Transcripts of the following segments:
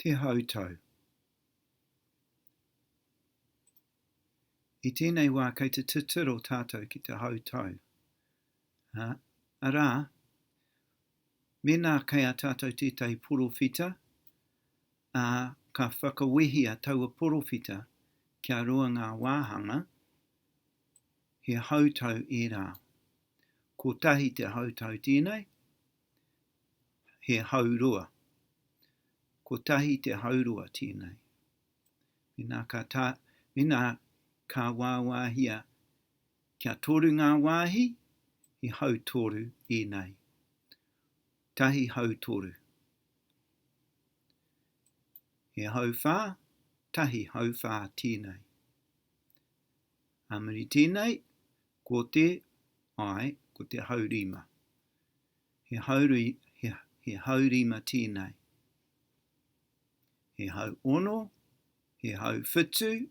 Te Hautau I tēnei wā kei te titiro tātou ki te hautau, arā, mēnā kei a tātou tētahi porowhita, ā, ka whakawehia taua porowhita kia roa ngā wāhanga, he hautau ērā. Kotahi te hautau tēnei, he haurua. Kotahi te haurua tēnei. Mena ka, tā, mena ka wāwāhia kia toru ngā wāhi, he hau toru ēnei. Tahi hau toru. He hau whā, tahi hau whā tēnei. Ā muri tēnei, Ko te, ae, ko te haurima. He hauri, he, he haurima tēnei. He hau ono, he hau whitu,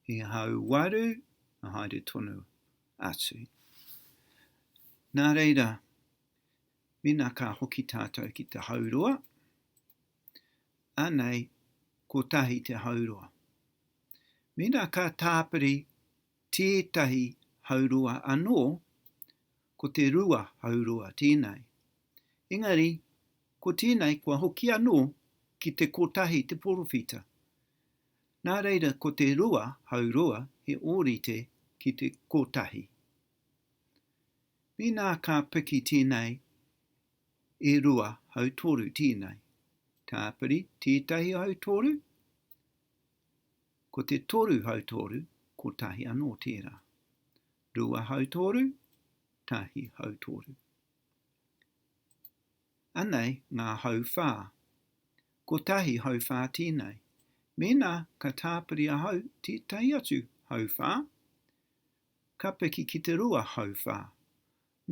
he hau waru, na haere tonu atu. Nā reira, mena ka hoki tātou ki te hauroa, anei, kotahi te hauroa. Mena ka tāpiri tētahi haurua anō, ko te rua haurua tēnei. Engari, ko tēnei kua hoki anō ki te kotahi te porowhita. Nā reira ko te rua haurua he ōrite ki te kotahi. Mēnā ka piki tēnei e rua hautoru tēnei, tāpiri tētahi hautoru, Ko te toru hautoru, kotahi anō tērā. Rua hautoru, tahi hautoru. Anei ngā hauwhā. Kotahi hauwhā tēnei. Mēnā ka tāpiri ahau tētahi atu hauwhā, ka piki ki te rua hauwhā.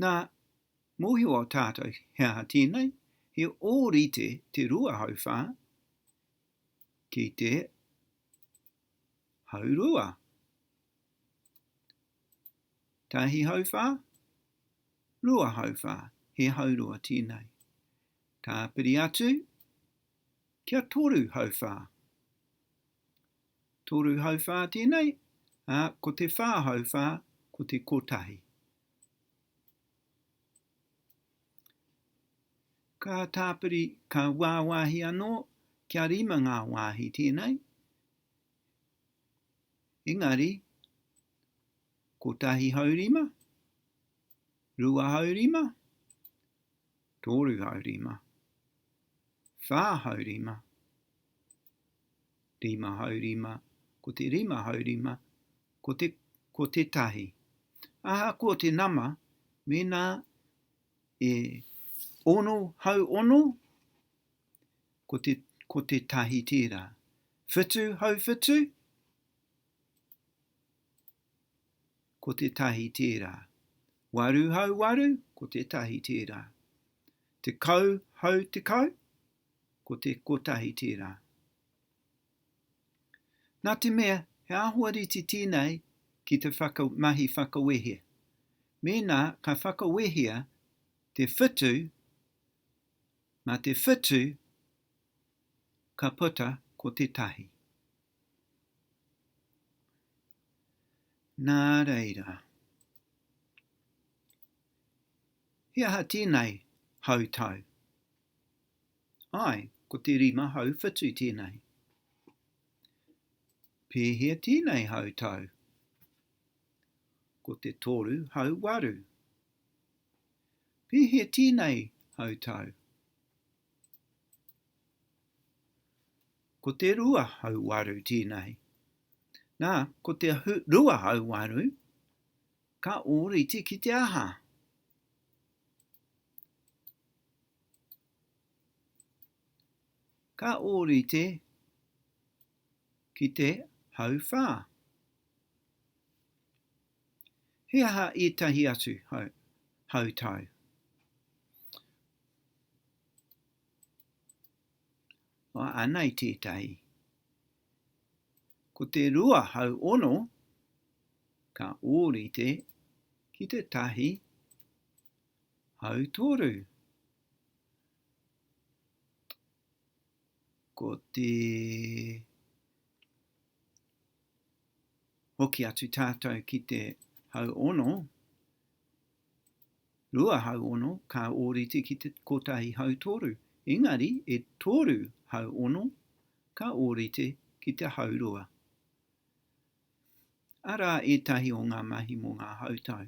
Nā, mōhio tātou he aha tēnei, he ōrite te rua hauwhā, ki te hau rua. Tahi hau whā, rua hau whā, he hau rua tēnei. Tāpiri atu, kia toru hau whā. Toru hau whā tēnei, a, ko te whā hau whā, ko te kotahi. Ka tāpiri, ka wāwahi anō, kia rima ngā wāhi tēnei, engari, kotahi hau rima, rua hau rima, toru hau rima, whā hau rima, rima hau rima, ko te rima hau rima, ko te, ko te tahi. Ahakoa te nama, mēnā e ono hau ono, ko te, ko te tahi tērā. Whitu hau whitu, ko te tahi tērā. Waru hau waru, ko te tahi tērā. Te kau hau te kau, Ko te kotahi tērā. Nā te mea he āhua rite tēnei ki te whaka, mahi whakawehe. Mēnā ka whakawehea te whitu, mā te whitu ka puta ko te tahi. Nā reira. He aha tēnei hautau? Āe, ko te rima hau whitu tēnei. Pēhea tēnei hau tau? Ko te toru hau waru. Pēhea tēnei hau tau? Ko te rua hau waru tēnei. Nā, ko te rua hau waru, Ka ōrite ki te aha? Ka ōrite ki te hauwhā. He aha ētahi atu hau, hautau? Anei tētahi. Ko te rua hau ono ka ōrite ki te tahi hau toru. Ko te hoki atu tātou ki te hau ono, Rua hau ono ka ōrite ki te kotahi hau toru, engari e toru hau ono ka ōrite ki te hau rua. Arā ētahi o ngā mahi mō ngā hautau.